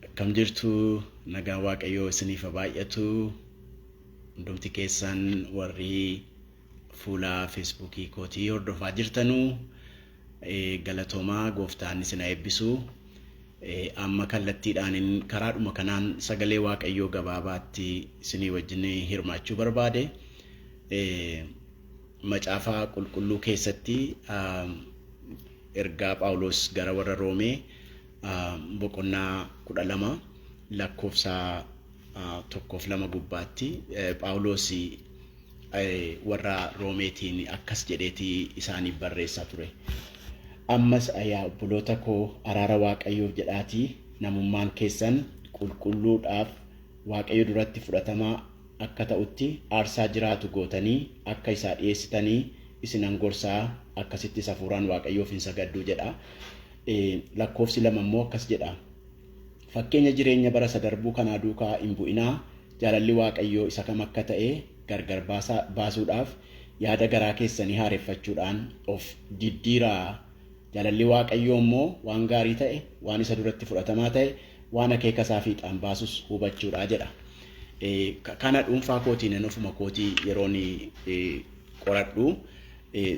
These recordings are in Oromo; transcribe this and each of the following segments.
Akkam jirtu nagaan waaqayyoo isiniif haa baay'atu hundumti keessan warri fuula feesbuukii kootii hordofaa jirtanu eh, galatoomaa gooftaan isin haa eebbisu Eh, amma kallattiidhaan karaadhuma kanaan sagalee waaqayyoo gabaabaatti isinii wajjin hirmaachuu barbaade Eh, Macaafa Qulqulluu keessatti ergaa Phaawulos gara warra Roomee boqonnaa 12 lakkoofsa tokkoof lama gubbaatti Phaawulos warra Roomeetiin akkas jedheeti isaaniif barreessaa ture. Ammas yaa obboloota koo araara Waaqayyoof jedhaatii namummaan keessan qulqulluudhaaf Waaqayyo duratti fudhatamaa akka ta'utti aarsaa jiraatu gootanii akka isaa dhi'eessitanii isinan gorsa, akkasittis hafuuraan Waaqayyoof in sagaddu jedha. Lakkoofsi lama immoo akkas jedha, Fakkeenya jireenya bara isa darbuu kanaa duukaa in bu'inaa, jaalalli Waaqayyoo isa kam akka ta'e gargar baasuudhaaf yaada garaa keessanii haareffachuudhaan of diddiiraa. Jaalalli Waaqayyoo immoo waan gaarii ta'e, waan isa duratti fudhatamaa ta'e, waan akeeka isaa fiixaan baasus hubachuudha jedha. Kana dhuunfaa kootiin ani ofuma kootii yeroon qoradhu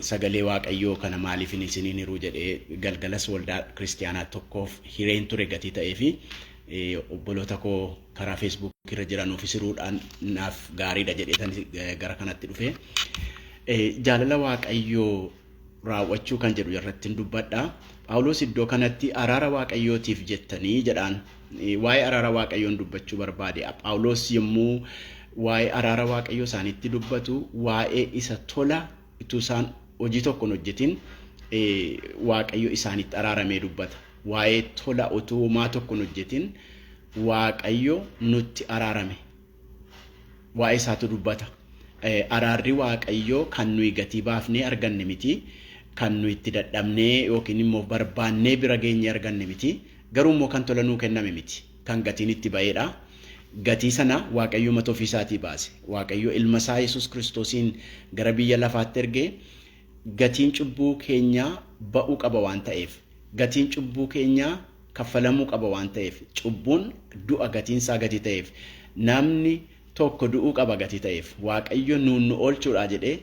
sagalee Waaqayyoo kana maaliif hin isiniin hiruu jedhee galgalas waldaa kiristiyaanaa tokkoof hireen ture gatii ta'ee fi obboloota koo karaa feesbuukii irra jiranuuf hiriiruudhaan naaf gaariidha jedhee gara kanatti dhufe. Jaalala Waaqayyoo raawwachuu kan jedhu irrattin dubbadha. Phaawulos iddoo kanatti araara Waaqayyootiif jettanii jedhaan. Waa'ee araara Waaqayyoon dubbachuu barbaade. Phaawulos yommuu waa'ee araara Waaqayyoo isaanitti dubbatu waa'ee isa tola utuu isaan hojii tokko hin hojjetin Waaqayyo isaanitti araaramee dubbata. Waa'ee tola utuu homaa tokko hin hojjetin Waaqayyo nutti araarame waa'ee isaatu dubbata. Araarri Waaqayyoo kan nuyi gatii baafnee arganne miti, kan nuyi itti dadhabnee yookiin immoo barbaannee bira geenyee arganne miti, garuu immoo kan tola nuu kenname miti, kan gatiin itti ba'eedha. Gatii sana Waaqayyo mata ofii isaatii baase. Waaqayyo ilma isaa Yesuus Kiristoosiin gara biyya lafaatti erge gatiin cubbuu keenyaa ba'uu qaba waan ta'eef. Gatiin cubbuu keenyaa kaffalamuu qaba waan ta'eef cubbuun du'a gatiin isaa gati ta'eef namni tokko du'uu qaba gati ta'eef waaqayyo nuun nu oolchuudhaa jedhee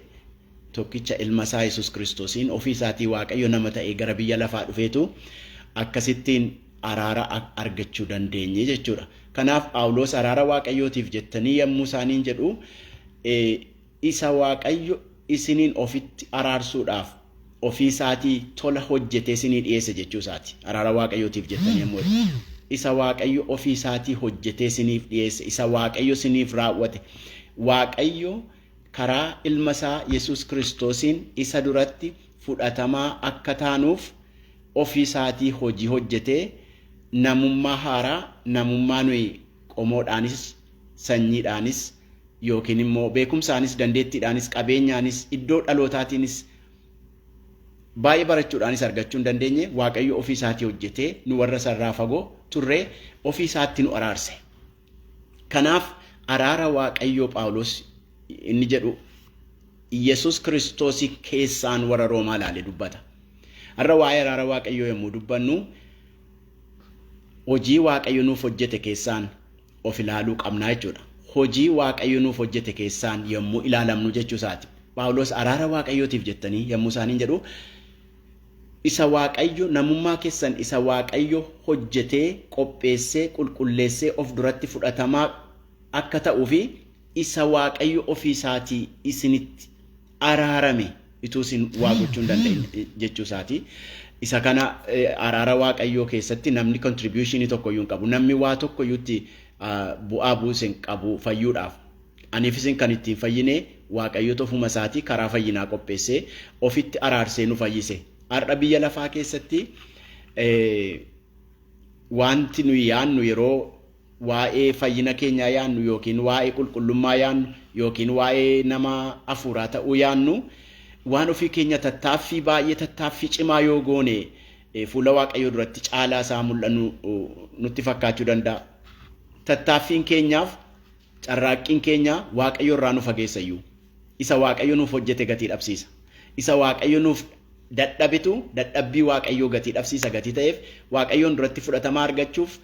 tokkicha ilma isaa yesus kiristoosiin ofii isaatii waaqayyo nama ta'ee gara biyya lafaa dhufeetu akkasittiin araara argachuu dandeenye jechuudha kanaaf phaawuloos araara waaqayyootiif jettanii yommuu isaaniin jedhu Isa Waaqayyo isiniin ofitti araarsuudhaaf ofii isaatii tola hojjetee isinii dhi'eesse jechuu isaati. Araara Waaqayyootiif jettanii yommuu jettu. Isa Waaqayyo ofii isaatii hojjetee isiniif dhi'eesse, isa Waaqayyo isiniif raawwate. Waaqayyo karaa Ilma isaa Yesuus Kiristoosiin isa duratti fudhatamaa akka taanuuf ofii isaatii hojii hojjetee namummaa haaraa, namummaa nuyi qomoodhaanis, sanyiidhaanis, yookiin immoo beekumsaanis, dandeettiidhaanis, qabeenyaanis, iddoo dhalootaatiinis, baay'ee barachuudhaanis argachuu hin dandeenye Waaqayyo ofii isaatii hojjetee nu warra isa irraa fagoo turree ofii isaatti nu araarse. Kanaaf araara Waaqayyoo Phaawulos inni jedhu Yesus Kiristoos keessaan warra Roomaa ilaale dubbata. Har'a waa'ee araara Waaqayyoo yommuu dubbannu hojii Waaqayyo nuuf hojjete keessaan of ilaaluu qabna jechuudha. Hojii Waaqayyo nuuf hojjete keessaan yommuu ilaalamnu jechuu isaati. Phaawulos araara Waaqayyootiif jettanii yommuu isaaniin jedhu isa Waaqayyo namummaa keessan isa Waaqayyo hojjetee qopheessee qulqulleessee of duratti fudhatamaa akka ta'uu fi isa Waaqayyo ofii isaatii isinitti araarame ituu isin waa gochuu hin dandeenye jechuu isaati. Isa kana araara waaqayyoo keessatti namni kontribuushinii tokko iyyuu hin qabu. Namni waa tokko iyyuu itti bu'aa buuse hin qabu fayyuudhaaf. Aniif isin kan ittiin fayyine waaqayyoota ofuma isaatii karaa fayyinaa qopheessee ofitti araarsee nu fayyise. Har'a biyya lafaa keessatti wanti nuyi yaannu yeroo waa'ee fayyina keenyaa yaannu yookiin waa'ee qulqullummaa yaannu yookiin waa'ee nama afuuraa ta'uu yaannu waan ofii keenya tattaaffii baay'ee tattaaffii cimaa yoo goone fuula waaqayyoo duratti caalaa isaa mul'annu nutti fakkaachuu danda'a. Tattaaffiin keenyaaf carraaqqiin keenya waaqayyo irraa nu fageessa iyyuu. Isa waaqayyo nuuf hojjete gatii dhabsiisa. Isa waaqayyo nuuf dadhabitu dadhabbii waaqayyoo gatii dhabsiisa gatii ta'eef waaqayyoon duratti fudhatama argachuuf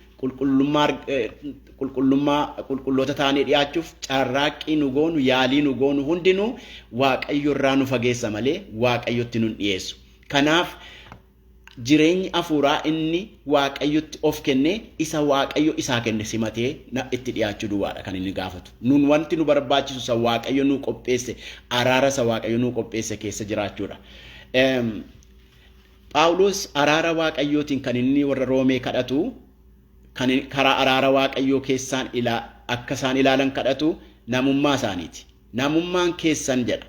qulqullummaa qulqulloota taanee dhiyaachuuf carraaqqii nu goonu yaalii nu goonu hundinuu waaqayyo irraa nu fageessa malee waaqayyotti nun dhiyeessu. Kanaaf jireenyi hafuuraa inni waaqayyotti of kenne isa waaqayyo isaa kenne simatee na itti dhiyaachuu duwwaadha kan inni gaafatu. Nun wanti nu barbaachisu isa waaqayyo nuu qopheesse araara isa waaqayyo nuu qopheesse keessa jiraachuudha. Em, Phaawulos araara Waaqayyootiin kan inni warra Roomee kadhatu, kan karaa araara Waaqayyoo keessaan ilaa, akka isaan ilaalan kadhatu namummaa isaaniiti. Namummaan keessan jedha.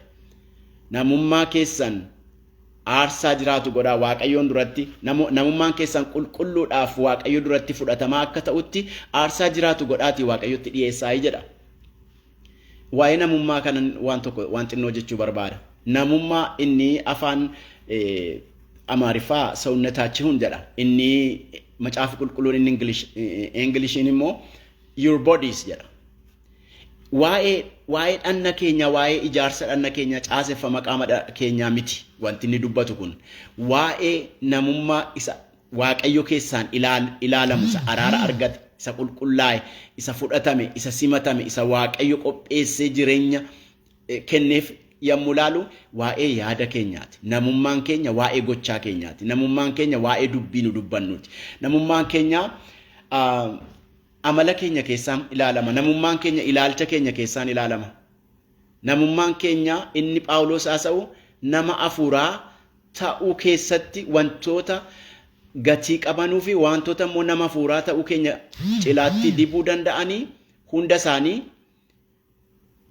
Namummaa keessan aarsaa jiraatu godhaa Waaqayyoon duratti, namu- namummaan keessan qulqulluudhaaf Waaqayyo duratti fudhatamaa akka ta'utti aarsaa jiraatu godhaatii Waaqayyotti dhiyeessaayi jedha. Waa'ee namummaa kanan waan tokko waan xinnoo jechuu barbaada. Namummaa inni afaan Amaariffaa sawunnataachihun jedha. Inni macaafi qulqulluun inni Ingilish Inglishiin immoo your bodies jedha. Waa'ee waa'ee dhanna keenya waa'ee ijaarsa dhanna keenya caaseffama qaama keenyaa miti wanti inni dubbatu kun waa'ee namummaa isa Waaqayyo keessaan ilaal, ilaalamu, isa araara argate, isa qulqullaa'e, isa fudhatame, isa simatame, isa Waaqayyo qopheessee jireenya eh, kenneef yommuu ilaalu waa'ee yaada keenyaati. Namummaan keenya waa'ee gochaa keenyaati. Namummaan keenya waa'ee dubbii nu dubbannuuti. Namummaan keenya ah, amala keenya keessaan ilaalama. Namummaan keenya ilaalcha keenya keessaan ilaalama. Namummaan keenya inni Phaawulos haasa'u nama hafuuraa ta'uu keessatti wantoota gatii qabanuu fi wantoota immoo nama hafuuraa ta'uu keenya cilaatti dibuu danda'anii hunda isaanii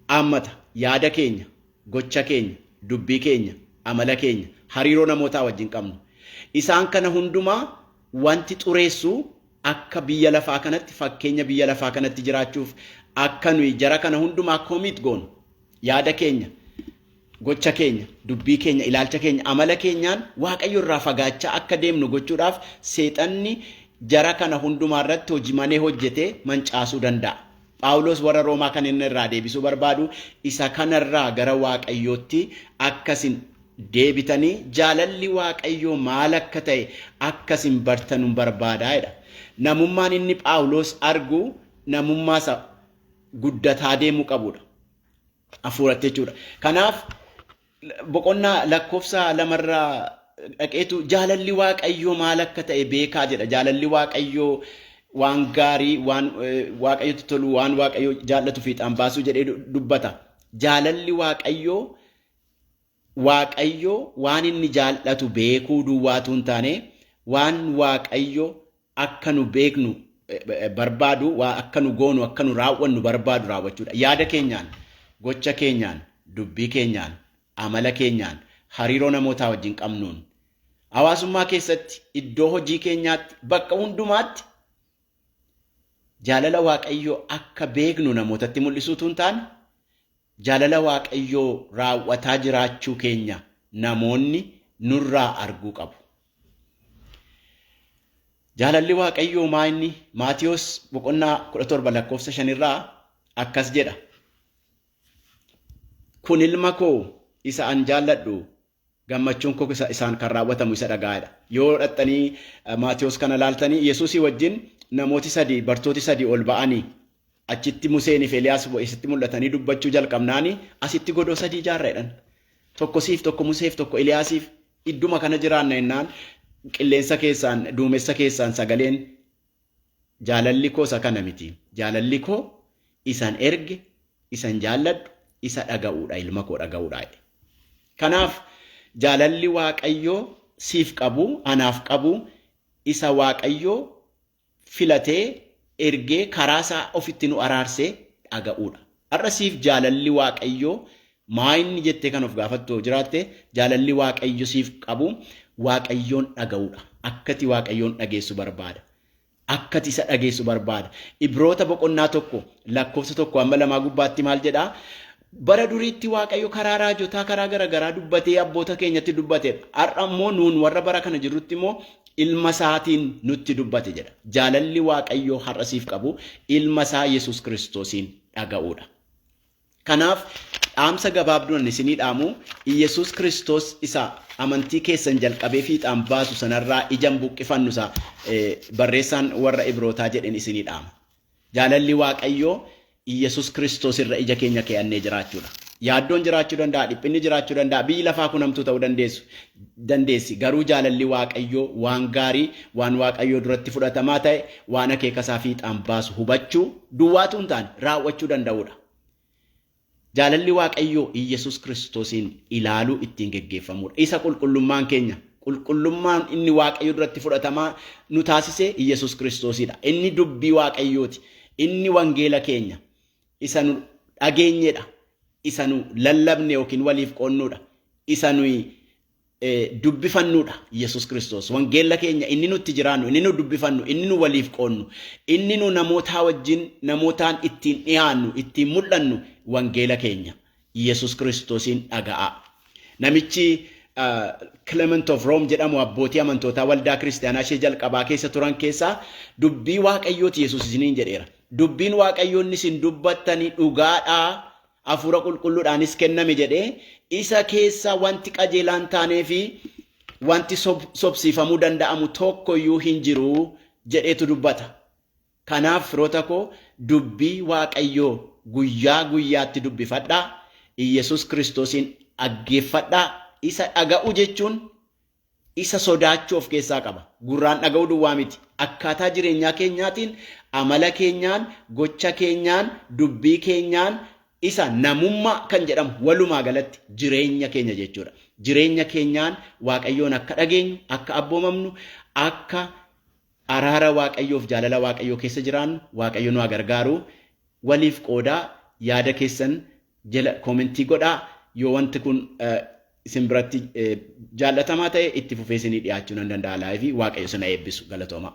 haammata. Yaada keenya, gocha keenya, dubbii keenya, amala keenya, hariiroo namootaa wajjin qabnu. Isaan kana hundumaa wanti xureessu akka biyya lafaa kanatti fakkeenya biyya lafaa kanatti jiraachuuf akka nuyi jara kana hundumaa commit goonu Yaada keenya, gocha keenya, dubbii keenya, ilaalcha keenya, amala keenyaan Waaqayyo irraa fagaachaa akka deemnu gochuudhaaf Seexanni jara kana hundumaa irratti hojimanee hojjetee mancaasuu danda'a. Phaawulos warra Roomaa kan inni irraa deebisuu barbaadu isa kana irraa gara Waaqayyootti akka isin deebitanii jaalalli Waaqayyoo maal akka ta'e akka isin bartanun barbaada jedha. Namummaan inni Phaawulos argu namummaa isa guddataa deemuu qabudha. Hafuuratti jechuudha. Kanaaf boqonnaa lakkoofsa lamarraa dhaqeetu jaalalli waaqayyoo maal akka ta'e beekaa jedha. Jaalalli waaqayyoo waan gaarii, waan eh, waaqayyotti tolu, waan waaqayyoo jaallatu fiixaan baasuu jedhee du- dubbata. Jaalalli waaqayyoo Waaqayyo waan inni jaallatu beekuu duwwaa utuu hin taane, waan Waaqayyo akka nu beeknu barbaadu, waa akka nu goonu, akka nu raawwannu barbaadu raawwachuudha. Yaada keenyaan, gocha keenyaan, dubbii keenyaan, amala keenyaan, hariiroo namootaa wajjin qabnuun, hawaasummaa keessatti, iddoo hojii keenyaatti, bakka hundumaatti Jaalala Waaqayyoo akka beeknu namootatti mul'isuu utuu hin taane, jaalala Waaqayyoo raawwataa jiraachuu keenya namoonni nurraa arguu qabu. Jaalalli Waaqayyoo maa inni? Maatiyos boqonnaa 17 lakkoofsa 5 irraa akkas jedha. Kun ilma koo isa an jaalladhu Gammachuun koo isa isaan kan raawwatamu isa dhaga'aa dha. Yoo dhaqxanii Maatewos kana laaltanii Yesuusii wajjin namooti sadii bartooti sadii ol ba'anii achitti Museenii fi Eliyaas isitti mul'atanii dubbachuu jalqabnaani asitti godoo sadii ijaarra jedhan. Tokko siif tokko Museef tokko Eliyaasiif idduma kana jiraanna jennaan qilleensa keessaan duumessa keessaan sagaleen Jaalalli koo isa kana miti. Jaalalli koo isan erge, isan jaalladhu, isa dhaga'uudha, ilma koo dhaga'uudha jedhe. Kanaaf jaalalli Waaqayyo siif qabu, anaaf qabu, isa Waaqayyo filatee, ergee, karaa isaa ofitti nu araarse dhaga'uudha. Har'a siif jaalalli Waaqayyoo maa inni jettee kan of gaafattu yoo jiraatte, jaalalli Waaqayyo siif qabu Waaqayyoon dhaga'uudha. Akkati Waaqayyoon dhageessu barbaada. Akkati isa dhageessu barbaada. Ibroota boqonnaa tokko lakkoofsa tokko amma lamaa gubbaatti maal jedhaa? Bara duriitti Waaqayyo karaa raajotaa karaa garaagaraa dubbatee abboota keenyatti dubbateedha. Har'a immoo nuun warra bara kana jirrutti immoo Ilma isaatiin nutti dubbate jedha. Jaalalli Waaqayyoo har'a siif qabu ilma isaa Yesuus Kiristoosiin dhaga'uudha. Kanaaf dhaamsa gabaabduun ani isinii dhaamu Yesuus Kiristoos isa amantii keessan jalqabee fiixaan baasu sanarraa ija hin buqqifannu isa barreessaan warra Ibrootaa jedheen isinii dhaama. Jaalalli Waaqayyoo Iyyesuus Kiristoos irra ija keenya kee'annee jiraachuu dha. Yaaddoon jiraachuu danda'a, dhiphinni jiraachuu danda'a, biyyi lafaa kun hamtuu ta'uu dandeessu, dandeessi, garuu jaalalli Waaqayyoo waan gaarii, waan Waaqayyoo duratti fudhatamaa ta'e, waan akeeka isaa fiixaan baasu hubachuu duwwaa utuu hin taane raawwachuu danda'uu dha. Jaalalli Waaqayyoo Iyyesuus Kiristoosiin ilaaluu ittiin geggeeffamuudha. Isa qulqullummaan keenya, qulqullummaan inni Waaqayyo duratti fudhatamaa nu taasise Iyyesuus Kiristoosiidha. Inni dubbii Waaqayyooti. Inni wangeela keenya isa nu dhageenyedha. Isa nu lallabne yookiin waliif qoonnuudha. Isa nuyi dubbifannuudha Yesus Kiristoos. Wangeella keenya inni nutti jiraannu, inni nu dubbifannu, inni nu waliif qoonnu, inni nu namootaa wajjin namootaan ittiin dhiyaannu, ittiin mul'annu wangeela keenya Yesus Kiristoosiin dhaga'aa. Namichi Clement of Rome jedhamu abbootii amantootaa waldaa kiristaanaa ishee jalqabaa keessa turan keessaa dubbii waaqayyooti Yesus isiniin jedheera. Dubbiin waaqayyoo inni isin dubbattanii dhugaadhaa Hafuura Qulqulluudhaanis kenname jedhee, isa keessa wanti qajeelaa hin taanee fi wanti sobsiifamuu danda'amu tokko iyyuu hin jiru jedheetu dubbata. Kanaaf firoota koo dubbii Waaqayyoo guyyaa guyyaatti dubbifadhaa, Iyyesuus Kiristoosiin dhaggeeffadhaa, isa dhaga'uu jechuun isa sodaachuu of keessaa qaba. Gurraan dhaga'uu duwwaa miti. Akkaataa jireenyaa keenyaatiin, amala keenyaan, gocha keenyaan, dubbii keenyaan isa namummaa kan jedhamu walumaa galatti jireenya keenya jechuudha. Jireenya keenyaan Waaqayyoon akka dhageenyu, akka abboomamnu, akka Araara waaqayyoof jaalala waaqayyoo keessa jiraannu waaqayyo nu haa gargaaru waliif qoodaa yaada keessan jela koomentii godhaa yoo wanti kun isin biratti jaallatamaa ta'e itti fufee isinii dhiyaachuu nan danda'a laayivii waaqayyo sina eebbisu galatoomaa.